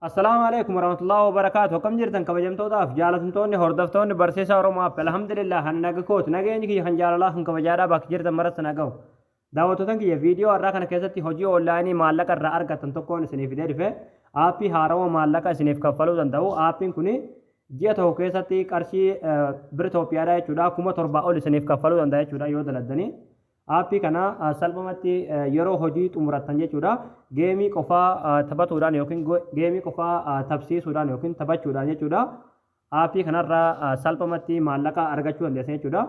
Assalaamu alaikum warahmatullahi wabarakaatu akkam jirtan kabajamtootaaf jaalatamtoonni hordoftoonni barsiisaa Oromoo App alhamdulillah kan naga kooti nageenyi kiyya kan jaalalaa kan kabajaadhaa bakka jirtan maratti na gahu daawwattootan kiyya viidiyoo har'aa kana keessatti hojii oonlaayinii maallaqa irraa argattan tokkoon isiniif fidee dhufe aappii haarawa maallaqa isiniif kaffaluu danda'u aappiin kun ji'a tokko keessatti qarshii biritooppiyaadhaa jechuudha kuma torbaa ol isiniif kaffaluu danda'a jechuudha yoo daladdanii Aappii kana salphumatti yeroo hojii xumurattan jechuudha. Geemii qofaa taphatuudhaan yookiin geemii qofaa taphsiisuudhaan yookiin taphachuudhaan jechuudha. Aappii kanarraa salphumatti maallaqa argachuu dandeessan jechuudha.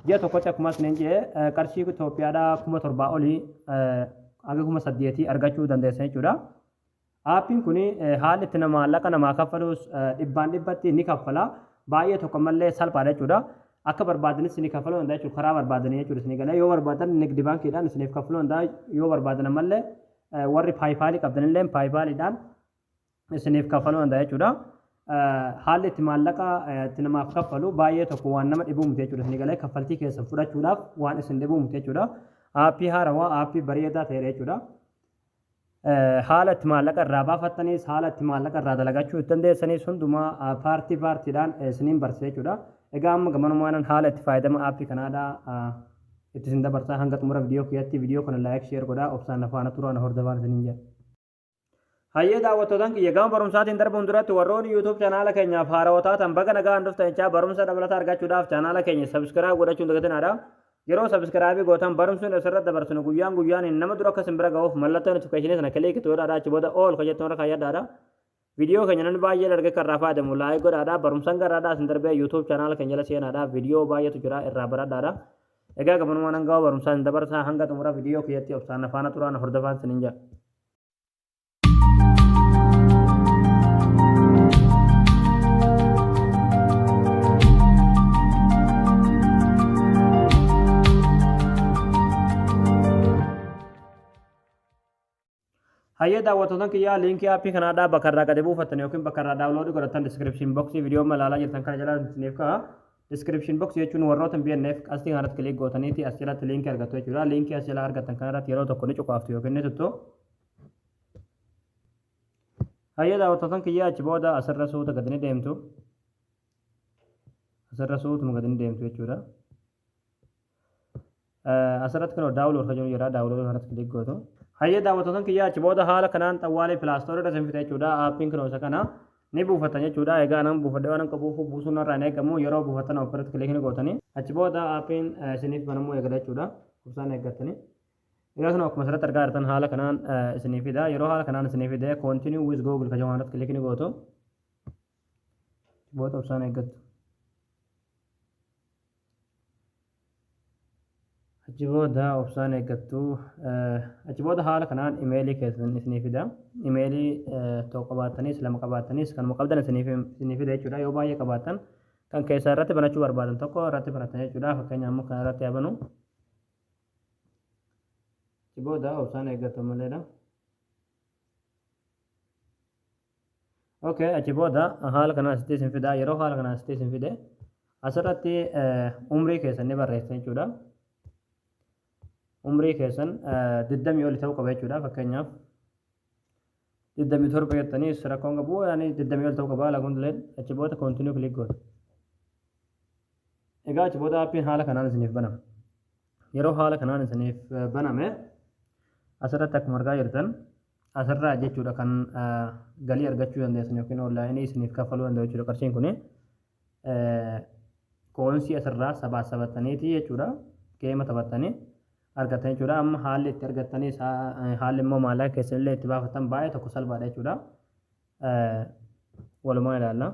Ji'a tokkotti akkuma isiniin jedhe qarshii Itoophiyaadhaa kuma torbaa olii haga kuma saddeetii argachuu dandeessan jechuudha. Aappiin kun haalli itti maallaqa namaa kaffaluus dhibbaan dhibbatti ni kaffala. Baay'ee tokko malee salphaadha jechuudha. Akka barbaadanitti isinii kaffaluu danda'a jechuudha. Karaa barbaadanii jechuudha isinii galee yoo barbaadan nigdi baankiidhaan isiniif kaffaluu danda'a. Yoo barbaadan ammallee warri paayipaalii qabdanillee paayipaaliidhaan isiniif kaffaluu danda'a jechuudha. Haalli itti maallaqa itti namaaf kaffalu baay'ee tokko waan nama dhibuu miti jechuudha. Isinii galee kaffaltii keessan fudhachuudhaaf waan isin dhibuu miti jechuudha. Aappii haarawaa aappii bareedaa ta'edha jechuudha. Haala itti maallaqa irraa baafattanis, haala itti maallaqa irraa dalagachuu itti dandeessanis hundumaa paartii paartiidhaan isiniin barsiisa jechuudha. Egaa amma gamanumaanan haala itti faayadama aappii kanaadha itti isin dabarsaa hanga xumura viidiyoo kiyyaatti viidiyoo kana laayik sheer godhaa obsaan na faana turaa na hordofaan isiniin jedha. Hayyee daawwattootaan kiyya gama barumsaatiin darbuun duratti warroonni YouTube chaanaala keenyaaf haarawa taatan baga nagaan dhuftan jechaa barumsa dabalataa argachuudhaaf chaanaala keenya subscribe godhachuun dagatinaadha. Yeroo subscribe gootan barumsni asirra dabarsinu guyyaan guyyaaniin nama dura akka isin bira ga'uuf mallattoo notification sana click to godhaadha achi booda all kan jettu irra kaayyadhaadha. Viidiyoo keenya namni baay'een arge kan irraa fayyadamu like godhaadha barumsan garraadhaa isin darbee YouTube channel keenya jala seenaadha viidiyoo baay'eetu jira irraa baradhaadha. Egaa gabanumaan hanga barumsaa isin dabarsaa hanga xumura viidiyoo kiyyatti obsaan na faana turaa na hordofaan isiniin jedha. Hayyee daawwattoota kiyyaa liinkii aappii kanaa dhaa bakka irraa gadi buufattan yookiin bakka irraa daawunloodii godhattan diskiripshin boksii viidiyoo malaalaa jirtan kana jala isiniif ka'a. Description box jechuun warroota BNF qastii kanarratti click gootaniiti as jalatti liinkii argattu jechuudha. Liinkii as jalaa argattan kanarratti yeroo tokko ni cuqaaftu yookiin ni tuttu. Hayyee daawwattootan kiyyaa achi booda asirra suuta gadi ni deemtu. Asirra suutuma gadi ni deemtu jechuudha. Asirratti kunoo daawulood kan jedhu jira. Daawulood irratti kilik gootu. Hayyee daawwattoota kiyyaa achi booda haala kanaan xawwaalee pilaastoorri irra sinfite jechuudha. Aappiin kunoo isa kana ni buufattan jechuudha. Egaa anan buufadhe waan akka buufuu buusuun irraa hin eegamu. Yeroo buufattan of irratti kilik ni gootanii. Achi booda aappiin isiniif banamuu eegala jechuudha. Obsaan eeggattanii. Egaa kunoo akkuma asirratti argaa jirtan haala kanaan isiniif fida. Yeroo haala kanaan isiniif fide continue with google kan jedhu irratti kilik ni gootu. Booda obsaan eeggattu. Achi booda obsaan eeggattu. Achi booda haala kanaan imeelii keessan isinii fida. Imeelii tokko qabaattanis lama qabaattanis kanuma qabdan isinii fida jechuudha. Yoo baay'ee qabaattan kan keessaa irratti banachuu barbaadan tokko irratti banatan jechuudha. Fakkeenyaaf immoo kana irratti haa banu. Achi booda obsaan eeggattu maleedha. ok achi booda haala kanaan asitti isin fida yeroo haala kanaan asitti isin fide asirratti umrii keessan ni barreessa jechuudha umrii keessan digdamii oli ta'uu qaba jechuudha fakkeenyaaf digdamii torba jettanii rakkoon qabu yaani digdamii oli ta'uu qaba haala kun leen achi booda koontinuu kilik goota egaa achi booda appiin haala kanaan isiniif banama yeroo haala kanaan isiniif baname asirratti akkuma argaa jirtan Asirraa jechuudha kan galii argachuu dandeessan yookiin oonlaayinii isiniif kaffaluu danda'u jechuudha qarshiin kun. Kooyinsii asirraa sabaa sabattaniiti jechuudha. Geema taphattanii argattan jechuudha. Amma haalli itti argattanii haalli immoo maallaqa keessanillee itti baafattan baay'ee tokko salphaadha jechuudha. walumaa ilaalla.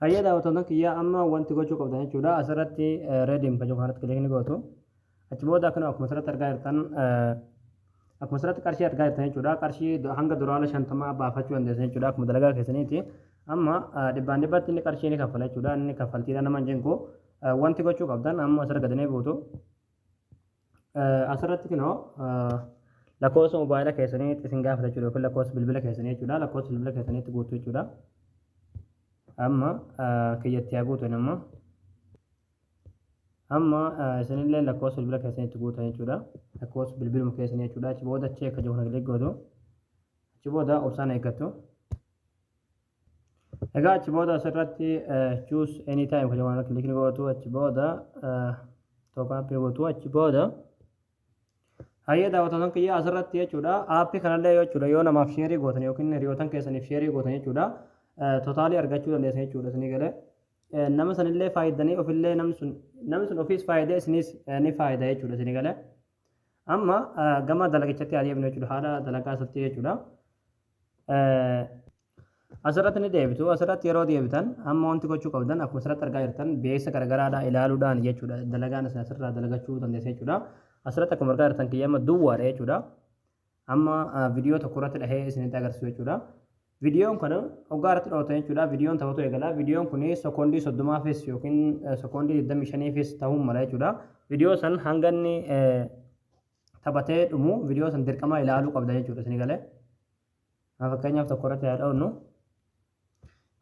Hayyee daawwattoota kiyyaa amma wanti gochuu qabdan jechuudha asirratti reediin kan jiru kanarratti kilik ni gootu. Achi booda akkana akkuma asirratti argaa jirtan akkuma asirratti qarshii argaa jirtan jechuudha qarshii hanga duraala shantamaa baafachuu dandeessan jechuudha akkuma dalagaa keessaniiti. Amma dhibbaan dhibbatti inni qarshii ni kaffala jechuudha inni kaffaltiidha nama hin jinku wanti gochuu qabdan amma asirra gadi ni buutu. Asirratti kunoo lakkoofsa mobaayila keessanii itti isin gaafata jechuudha yookiin lakkoofsa bilbila keessanii jechuudha. Lakkoofsa bilbila keessanii itti guutuu jechuudha. Amma kiyyatti haa guutan amma. Amma isinillee lakkoofsa bilbila keessanii itti guutan jechuudha. Lakkoofsa bilbiluma keessanii jechuudha. Achi booda achi akka jiru kana kilik gootu. Achi booda obsaan eeggatu. Egaa achi booda asirratti choose any time kan jedhamu kiliki ni gootu achi booda tokko appii gootu achi booda hayyee daawwattoota kiyyaa asirratti jechuudha appii kanallee yoo jechuudha yoo namaaf sheerii gootan yookiin hiriyootan keessaniif sheerii gootan jechuudha totaalii argachuu dandeessan jechuudha isinii galee nama sanillee faayidanii ofillee namni sun namni sun ofiis faayidee isinis ni faayida jechuudha isinii galee amma gama dalagichatti haa deemnu jechuudha haala dalagaa isatti jechuudha. Asirratti ni deebitu. Asirratti yeroo deebitan amma wanti gochuu qabdan akkuma asirratti argaa jirtan beeksisa garagaraadhaa ilaaluudhaan jechuudha. Dalagaan isin asirraa dalagachuu dandeessa jechuudha. Asirratti akkuma argaa jirtan kiyya amma duwwaadha jechuudha. Amma viidiyoo tokko irratti dhahee isinitti agarsiisu jechuudha. Viidiyoon kana hoggaa irratti dhawatan jechuudha. Viidiyoon taphatu eegala. Viidiyoon kun sekoondii soddomaafis yookiin sekoondii digdamii shaniifis ta'uu mala jechuudha. Viidiyoo san hanga inni taphatee dhumu video san dirqama ilaaluu qabda jechuudha isin galee haa fakkeenyaaf tokko irratti haa dha'unnu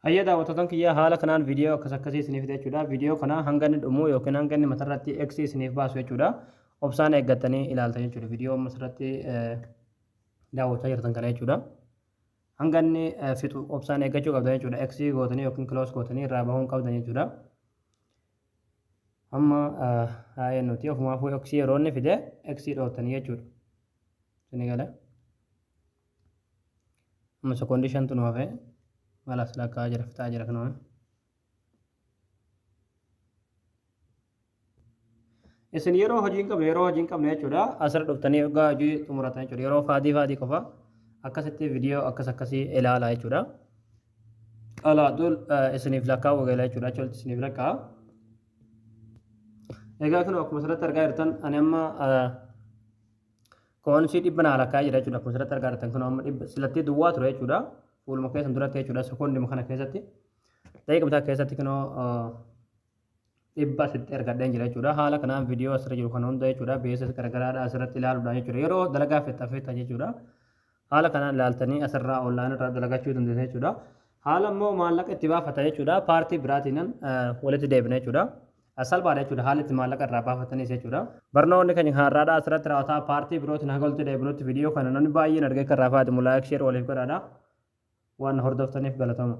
Hayya daawwattotan kiyya haala kanaan viidiyoo akkas akkasii isiniif fide jechuudha. Viidiyoo kana hanga inni dhumu yookiin hanga inni matarratti X isiniif baasu jechuudha. Obsaan eeggattanii ilaaltan jechuudha. Viidiyoo masarratti daawwachaa jirtan kana jechuudha. Hanga inni fixu obsaan eeggachuu qabdan jechuudha. X gootanii yookiin close gootanii irraa bahuu hin qabdan jechuudha. Amma haa nuti ofumaafuu x yeroo inni fide x dhootanii jechuudha. Sini gala. Amma sekoondii shantu nu hafe malas lakkaa jira fixaa jira kanuma. Isin yeroo hojii hin qabne yeroo hojii hin qabne jechuudha asirra dhuftanii egaa hojii xumuratan jechuudha yeroo faadii faadii qofa akkasitti viidiyoo akkas akkasii ilaala jechuudha. qalaatu isiniif lakkaa'uu eegala jechuudha achi walitti isiniif lakkaa'a. Egaa kun akkuma asirratti argaa jirtan ani amma koonsii dhibba naa lakkaa'ee jira jechuudha akkuma asirratti argaa jirtan kun amma dhibba silattee duwwaa ture jechuudha fuuluma keessan duratti jechuudha sekoondima kana keessatti daqiiqa bitaa keessatti kunoo dhibba asitti argadheen jira jechuudha. Haala kanaan viidiyoo asirra jiru kana hunda jechuudha. Beeksisa garagaraadha asirratti ilaaluudhaan jechuudha. Yeroo dalagaa fixxa fixxa jechuudha. Haala kanaan ilaaltanii asirraa online irraa dalagachuu dandeessa jechuudha. Haala immoo maallaqa itti baafata jechuudha. Paartii biraatiin walitti deebina jechuudha. Salphaadha jechuudha. Haala itti maallaqa irraa baafatanis jechuudha. Barnoonni keenya har'aadha asirratti raawwataa paartii birootiin haga walitti deebinutti viidiyoo kana namni baay'een argee kan raafaati mulaa'ik sheer waliif godhaadha. Waan hordoftaniif galatoomaa.